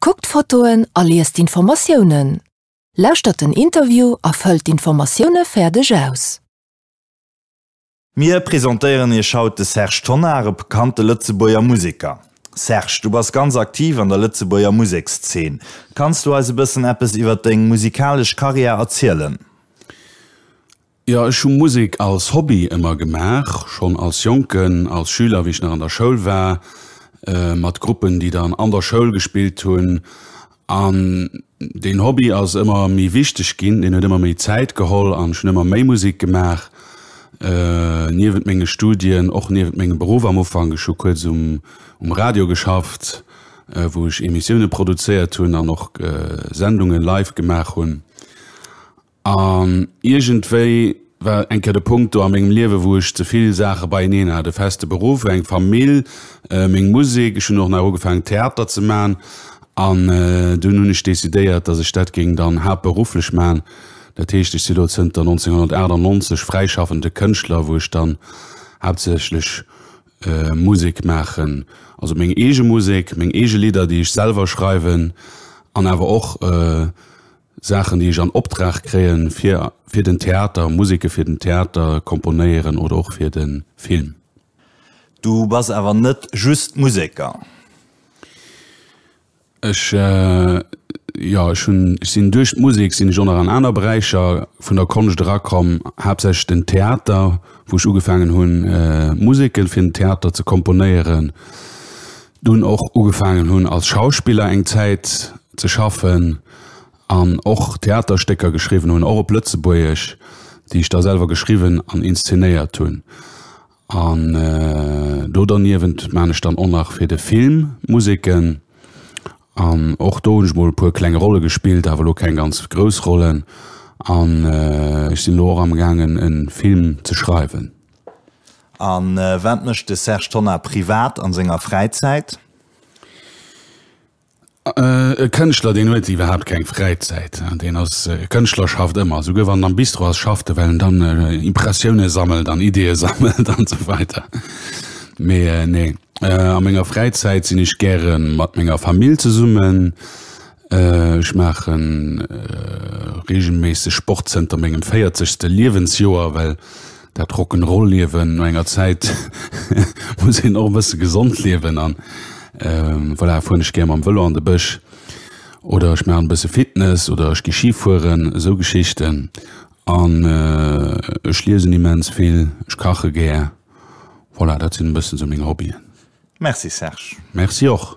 Kuckt d'Fotoen a liest d'Informatiounen. Lauschtert den Interview a fëllt d'Informatioune fäerdeg aus. Mir presentéieren iech haut de Serge Tonnar, e bekannte Lëtzebuerger Museker. Serge, du bass ganz aktiv an der Lëtzebuerger Musekszeen. Kanns du eis e bëssen eppes iwwer deng musikalesch Karriär erzielen? Jo, ech hu Musek als Hobby ëmmer gemaach, schonn als Jonken, als Schüler, wéi ech nach an der Schoul war, mat Gruppen, déi dann an der Schoul gespillt hunn. An deen Hobby ass ëmmer méi wichteg ginn, deen huet ëmmer méi Zäit geholl an ech hunn ëmmer méi Musek gemaach, niewent menge Studien, och niewent mengem Beruff. Am Ufank, ech hu kuerz um um Radio geschafft, wou ech Emissioune produzéiert hunn an och Sendunge live gemaach hunn. An iergendwéi war eng Kéier de Punkt do a mengem Liewe wou ech ze vill Saache beieneen hat, e feste Beruff, eng Famill, meng Musek, ech hunn och nach ugefaangen Theater ze man an dunn hunn ech decidéiert, datt ech dat géing dann haaptberufflech man. Dat heescht ech si lo zënter 1998 fräischaffende Kënschtler wou ech dann haaptsächlech Musek maachen, also meng eege Musek, meng eege Lidder déi ech selwer schreiwen an awer och Saachen déi ech an Optrag kréien fir fir den Theater, Museke fir den Theater komponéieren oder och fir den Film. Du bass awer net just Museker? Ech jo, ech hunn, ech sinn duerch d'Musek sinn ech och nach an aner Beräicher vun der Konscht erakomm, haaptsächlech den Theater wou ech ugefaangen hunn Museke fir den Theater ze komponéieren. dunn och ugefaangen hunn als Schauspiller eng Zäit ze schaffen an och Theaterstécker geschriwwen hunn, och op Lëtzebuergesch, déi ech da selwer geschriwwen an inszenéiert hunn. An do derniewent maachen ech dann och nach fir de Film Museken an och do hunn ech mol e puer kleng Rolle gespillt, awer elo keng ganz grouss Rollen. An ech sinn elo och amgaangen e Film ze schreiwen. A wat mécht de Serge Tonnar privat a senger Fräizäit? E Kënschtler, deen huet iwwerhaapt keng Fräizäit. Deen ass e Kënschtler, schafft ëmmer. Souguer wann en am Bistro ass, schafft e, well en dann Impressioune sammelt an Ideeë sammelt an esou weider. Mee nee, a menger Fräizäit sinn ech gäre mat menger Famill zesummen. Ech maachen reegelméisseg Sport zënter mengem véierzegste Liewensjoer, well dat Rock'n'Roll Liewen no enger Zäit muss een och e bësse gesond liewen an voilà, fueren ech gär mam Vëlo an de Bësch oder ech maachen e bësse Fitness oder ech gi Ski fueren, esou Geschichten an ech liesen immens vill, ech kache gär. Voilà, dat sinn e bëssen esou meng Hobbyen. Merci Serge. Merci och.